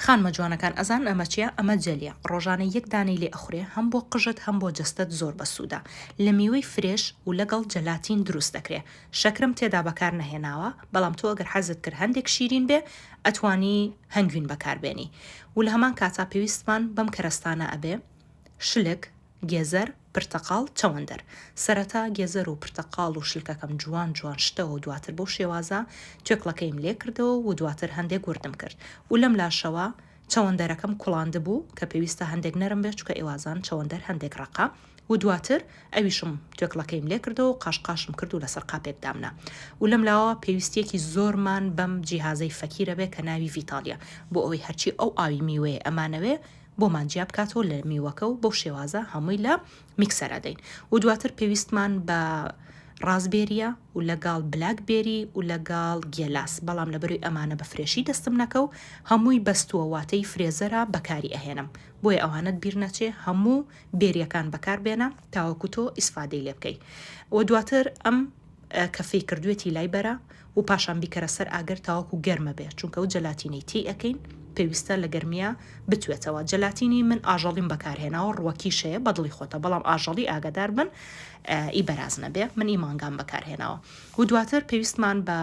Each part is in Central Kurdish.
خانمە جوانەکان ئەزانن ئەمە چیە ئەمە جەلیە ڕۆژانە یەک دانەی لێ ئەخورێ هەم بۆ قژت هەم بۆ جەستەت زۆر بەسودە لە میوەی فرێش و لەگەڵ جەلاتین دروست دەکرێ شەکرم تێدا بەکار نەهێناوە بەڵام تۆ ئەگەر حەزت کرد هەندێک شیرین بێ ئەتوانی هەنگوین بەکار بێنی و لە هەمان کاتا پێویستمان بەم کەرەستانە ئەبێ شلک گێزەر، پرتەقاڵ، چەوەندەر. سەرەتا گێزەر و پرتەقاڵ و شلکەکەم جوان جوان شتەوە و دواتر بەو شێوازە توێکڵەکەیم لێ کردەوە و دواتر هەندێک وردم کرد و لەم لاشەوە چەوەندەرەکەم کوڵاندبوو کە پێویستە هەندێک نەرم بێت چونکە ئێوازان چەوەندەر هەندێک ڕەقە و دواتر ئەویشم توێکڵەکەیم لێ کردەوە و قاش قاشم کرد و لەسەر قاپێک دامنا و لەم لاوە پێویستیەکی زۆرمان بەم جیهازەی فەکیرە بێ کە ناوی ڤیتالیە بۆ ئەوەی هەرچی ئەو ئاوی میوەیە ئەمانەوێ بۆمان جیا بکاتەوە لە میوەکە و بەو شێوازە هەمووی لە میکسەر ئەدەین و دواتر پێویستمان بە ڕازبێریە و لەگەڵ بلاک بێری و لەگەڵ گێلاس بەڵام لە بەروی ئەمانە بە فرێشی دەستم نەکە و هەمووی بەستووە واتەی فرێزەرە بەکاری ئەهێنم بۆیە ئەوانت بیر نەچێ هەموو بێریەکان بەکار بێنە تاوەکو تۆ ئیسفادەی لێ بکەی و دواتر ئەم کەفەی کردوێتی لای بەرە و پاشان بیکەرە سەر ئاگر تاوەکو گەرمە بێ چونکە و جەلاتینەی تی ئەکەین پێویستە لە گەرمیا بتوێتەوە جەلاتینی من ئاژەڵیم بەکارهێناوە ڕوەکیش هەیە بەدڵی خۆتە بەڵام ئاژەڵی ئاگادار بن ئی بەراز نەبێ من ئی مانگام بەکارهێناوە و دواتر پێویستمان بە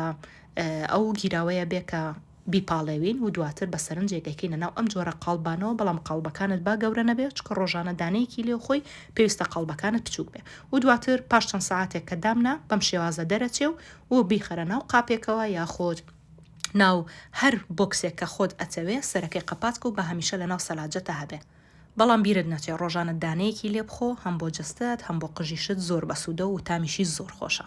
ئەو گیراوەیە بێ کە بیپاڵێوین و دواتر بە سەرنجێک دەیکەینە ناو ئەم جۆرە قاڵبانەوە بەڵام قاڵبەکانت با گەورە نەبێ چونکە ڕۆژانە دانەیەکی لێ خۆی پێویستە قاڵبەکانت بچوک بێ و دواتر پاش چەند سەعاتێک کە دامنا بەم شێوازە دەرەچێ و و بیخەرە ناو قاپێکەوە یاخود ناو هەر بۆکسێک کە خۆت ئەتەوێ سەرەکەی قەپات کە و با هەمیشە لەناو سەلاجەتە هەبێ بەڵام بیرت نەچێ ڕۆژانە دانەیەکی لێ بخۆ هەم بۆ جەستەت هەم بۆ قژیشت زۆر بەسودە و تامیشی زۆر خۆشە.